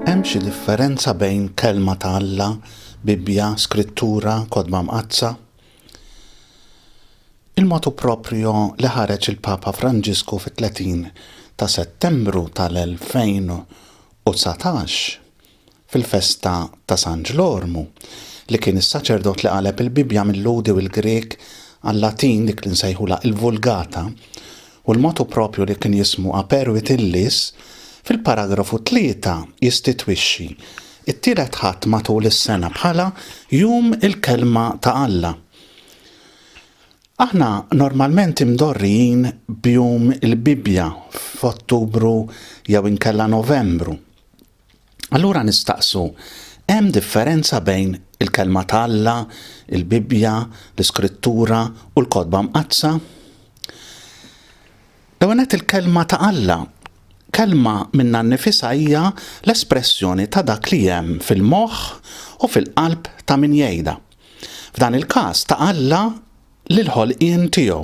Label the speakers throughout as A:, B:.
A: Hemm xi differenza bejn kelma ta' Alla, Bibbja, Skrittura, Kodba Mqaddsa? Il-motu proprio li ħareġ il-Papa Franġisku fit-30 ta' Settembru tal-2000 u dsatax, fil-festa ta' San Ġlormu, li kien is-saċerdot li qaleb il-Bibbja mil-Lhudi u l-Grieg għal-Latin, dik li nsejħulha il-Vulgata, u l-motu proprju li kien jismu Aperuit Illis, fil-paragrafu tlieta jistitwixxi t-Tielet Ħadd matul is-sena bħala Jum il-Kelma ta' Alla. Aħna normalment imdorrijin b'Jum il-Bibbja f'Ottubru jew inkella Novembru. Allura nistaqsu, hemm differenza bejn il-Kelma ta' Alla, il-Bibbja, l-Iskrittura u l-Kotba Mqaddsa? L-ewwel nett il-Kelma ta' Alla. Kelma minnha nnifisha hija l-espressjoni ta' dak li hemm fil-moħħ u fil-qalb ta' min jgħidha. F'dan il-każ ta' Alla lill-ħolqien tiegħu.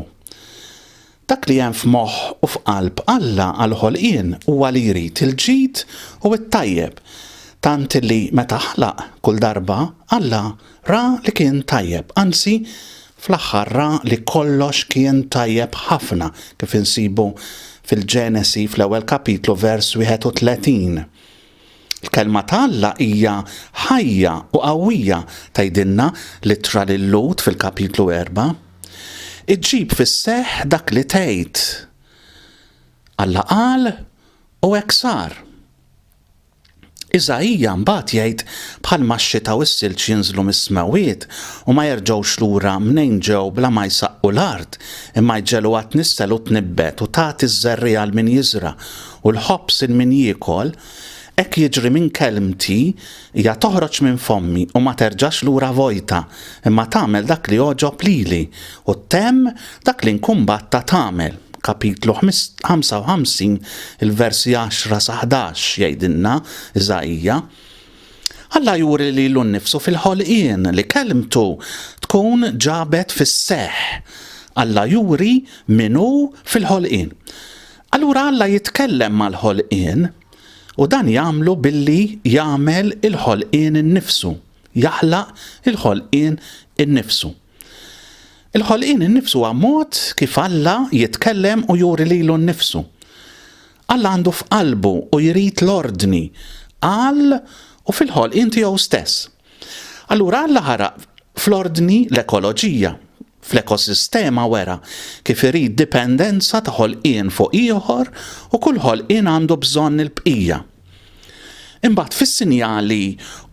A: Dak li hemm f'moħħ u f'qalb Alla għall-ħolqien huwa li jrid il-ġid u t-tajjeb, tant li meta ħalaq kull darba Alla ra li kien tajjeb, anzi fl-aħħar ra li kollox kien tajjeb ħafna kif insibu fil-Ġenesi fl-ewwel kapitlu vers 31. Il-Kelma ta' Alla hija ħajja u qawwija, tgħidilna l-Ittra lil Lhud fil-Kapitlu erbgħa. Iġġib fis-seħħ dak li tgħid. Alla qal u hekk sar. Iżaija mbagħad jgħid bħalma x-xita u s-silġ jinżlu mis-smewwiet u ma jerġgħux lura mnejn ġew bla ma jsaqqu l-art, imma jġegħluha tnissel u tnibbet u tagħti ż-żerriegħa għal min jiżra' U l-ħobż il min jiekol, hekk jiġri minn kelmti, hija toħroġ minn fommi u ma terġax lura vojta, imma tagħmel dak li jogħġob lili, u ttemm dak li nkun bgħattha tagħmel. Kapitlu 55, il-versi 10 sa 11, jgħidilna Iżaija, Alla juri lilu nnifsu fil-ħolqien li kelmtu tkun ġabet fis-seħħ. Alla juri min hu fil-ħolqien. Allura Alla jitkellem mal-ħolqien, u dan jagħmlu billi jagħmel il-ħolqien innifsu, jaħlaq il-ħolqien innifsu. Il-ħolqien innifsu huwa mod kif Alla jitkellem u juri lilu nnifsu. Alla għandu f'qalbu u jrid l-ordni għal u fil-ħolqien tiegħu stess. Allura Alla ħaraq fl-ordni l-ekoloġija. Fl-ekosistema wera kif irid dipendenza ta' ħolqien fuq ieħor u kull ħolqien għandu bżonn il-bqija. Imbagħad fis-sinjali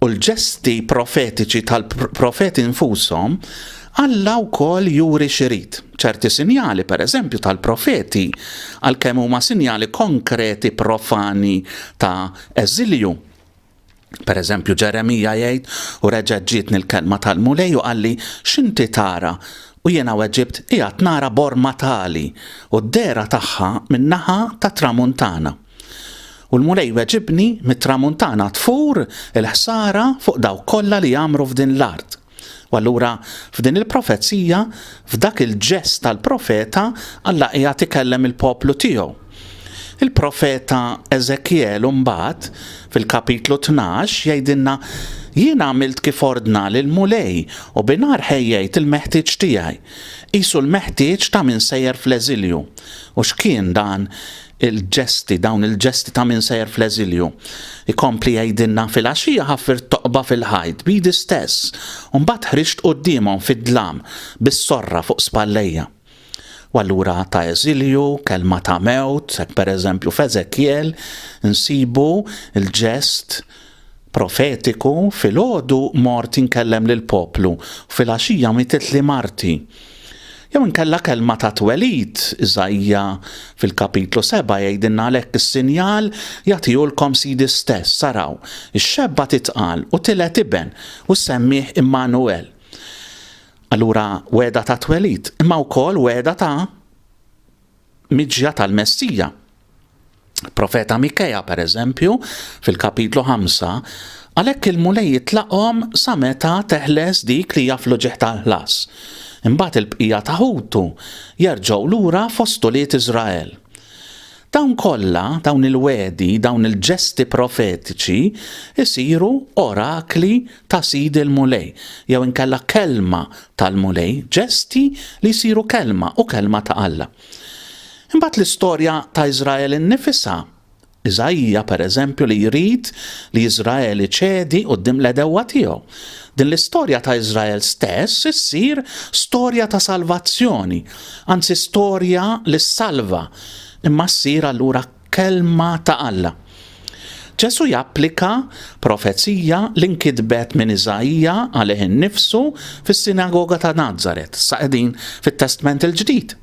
A: u l-ġesti profetiċi tal-profeti nfushom, Alla wkoll juri x'irid. Ċerti sinjali, pereżempju, tal-profeti, għalkemm huma sinjali konkreti profani ta' eżilju, Per eżempju, Ġeremija jgħid, u reġgħet ġietni l-kelma tal-Mulej u qalli, x'inti tara? U jiena weġibt, qiegħed nara borma tali, u d-dehra tagħha min-naħa tat-tramuntana. U l-Mulej weġibni, mit-tramuntana tfur il-ħsara fuq dawk kollha li jgħammru f'din l-art. U allura f'din il-profezija, f'dak il-ġest tal-profeta, Alla qiegħed ikellem il-poplu tiegħu. Il-profeta Eżekjel mbagħad fil-kapitlu 12 jgħidilna jien għamilt kif ordna lil mulej u binar ħejjejt il-meħtieġ tiegħi. Qisu l-meħtieġ ta' min sejjer fl-eżilju. U x'kien dan il-ġesti, dawn il-ġesti ta' min sejjer fl-eżilju. Ikompli jgħidilna fil-għaxija ħaffirt toqba fil-ħajt b'idi stess u mbagħad ħriġt quddiemhom fid-dlam bis-sorra fuq spallejja. U allura ta' eżilju, kelma ta' mewt, hekk pereżempju f'Eżekjel insibu l-ġest Profetiku, Filgħodu mort inkellem lill-poplu u filgħaxija mietitli marti. Jew inkella kelma ta' twelid, Iżaija fil-kapitlu seba' jgħidilna għalhekk is-sinjal jagħtihulkom Sidi stess, araw, ix-xebba titqal u tiled iben u ssemmih Immanuwel. Allura wegħda ta' twelid, imma wkoll wegħda ta' miġja tal-Messija. Profeta Mikea, per eżempju, fil-kapitlu 5, għalhekk il-Mulej jitlaqhom sa meta teħles dik li jaflu ġieħ tal-ħlas. Imbagħad il-bqija ta' ħutu jerġgħu lura fost ulied Iżrael. Dawn kollha, dawn il-wedi, dawn il-ġesti profetiċi jsiru orakli ta' Sidi l-Mulej, jew inkella kelma tal-Mulej, ġesti li jsiru kelma u kelma ta' Alla. Imbagħad l-istorja ta' Iżrael innifisha, Iżaija pereżempju li jrid li Iżrael iċedi quddiem l-għedewwa tiegħu. Din l-istorja ta' Iżrael stess issir storja ta' salvazzjoni, anzi storja li ssalva, imma ssir allura Kelma ta' Alla. Ġesù japplika profezija li nkitbet minn Iżaija għalih innifsu fis-sinagoga ta' Nazaret, sa qegħdin fit-Testment il-Ġdid.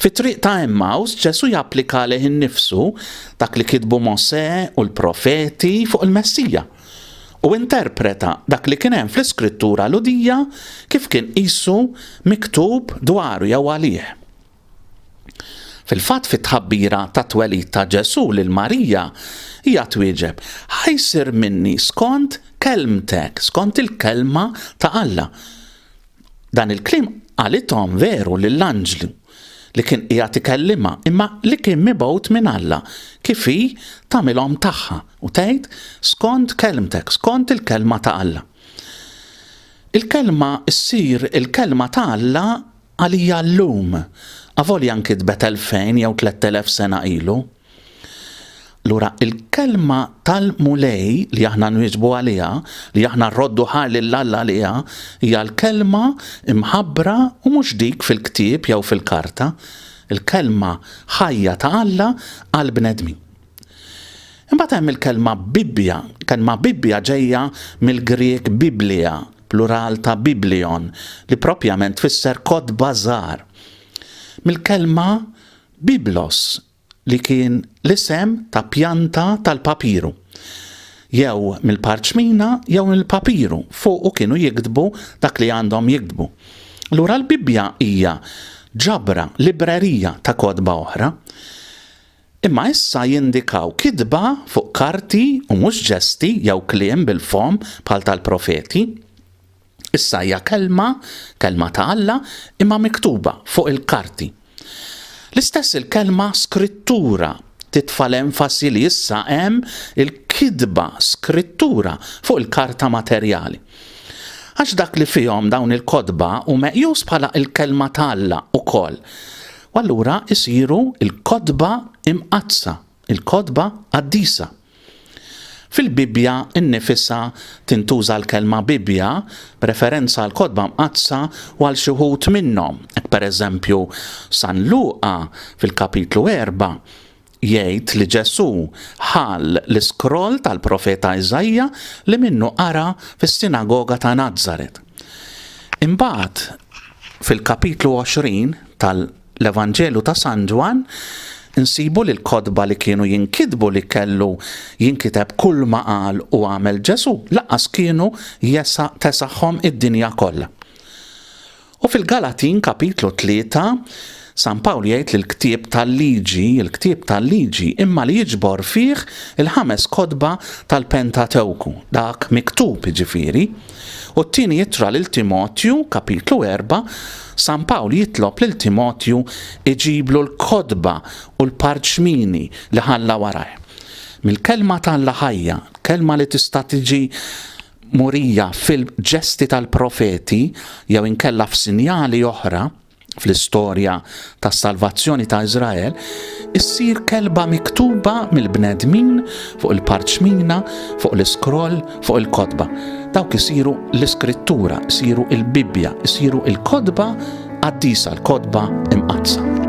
A: Fit-triq ta' Emmaus, Ġesù japplika għalih innifsu dak li kitbu Mosè u l-profeti fuq il-Messija, u interpreta dak li kien hemm fl-Iskrittura Lhudija kif kien qisu miktub dwaru jew għalih. Fil-fatt fit-tħabbira tat-twelid ta' Ġesù lil Marija, hija twieġeb, Ħa jsir minni skont kelmtek, skont il-kelma ta' Alla. Dan il-kliem qalithom veru lill-anġlu li kien qiegħed ikellimha, imma li kien mibgħut minn Alla, kif hi tagħmilhom tagħha u tgħid, Skont kelmtek, skont il-kelma ta' Alla. Il-kelma ssir il-kelma ta' Alla Għalija llum, avolja nkitbet elfejn jew tlett elef sena ilu. Lura, il-kelma tal-Mulej li aħna nwieġbu għaliha, li aħna rroddu ħar lil Alla għaliha, hija l-kelma mħabbra u mhux dik fil-ktieb jew fil-karta, il-kelma ħajja ta' Alla għall-bnedmin. Imbagħad hemm il-kelma Bibbja. Kelma Bibbja ġejja mill-Grieg biblia, plural ta' biblion, li proprjament tfisser kotba żgħar. Mill-kelma biblos li kien l-isem ta' pjanta tal-papiru. Jew mill-parċmina jew mill-papiru fuqu kienu jiktbu dak li għandhom jiktbu. Allura l-Bibbja hija ġabra, librerija ta' kotba oħra. imma issa jindikaw kitba fuq karti u mhux ġesti jew kliem bil-fomm bħal tal-profeti. Issa hija kelma, kelma ta' Alla, imma miktuba fuq il-karti. L-istess il-kelma Skrittura titfa' l-enfasi li issa hemm il-kitba Skrittura fuq il-karta materjali. Għax dak li fihom dawn il-kotba hu meqjus bħala l-Kelma ta' Alla wkoll. U allura isiru l-kotba imqaddsa, il-kotba qaddisa. Fil-Bibbja nnifisha tintuża l-kelma Bibbja b'referenza għall-kotba mqaddsa u għal xi wħud minnhom, hekk pereżempju San Luqa fil-kapitlu erba' jgħid li Ġesù ħa l-iskroll tal-profeta Iżaija li minnu qara fis-sinagoga ta' Nazaret. Imbagħad, fil-kapitlu 20 tal-Evanġelju ta' San Ġwann, insibu li l-kotba li kienu jinkitbu li kellu jinkiteb kull ma qal u għamel Ġesù lanqas kienu tesaħhom id-dinja kollha. U fil-Galatin kapitlu tlieta, San Pawl jgħid li l-ktieb tal-liġi, il-ktieb tal-liġi, imma li jiġbor fih il-ħames kotba tal-Pentatewku, dak miktub jiġifieri. U t-tieni ittra lil Timotju, kapitlu erba', San Pawl jitlob lil Timotju iġiblu l-kotba u l-parċmini li ħalla warajh. Mill-kelma t'Alla ħajja, kelma li tista' tiġi murija fil-ġesti tal-profeti jew inkella f'sinjali oħra fl-istorja tas-salvazzjoni ta' Iżrael, issir kelba miktuba mill-bnedmin fuq il-parċmina, fuq l-iskroll, fuq il-kotba. Dawk isiru l-iskrittura, isiru il-Bibbja, isiru il-kotba qaddisa, l-kotba imqaddsa.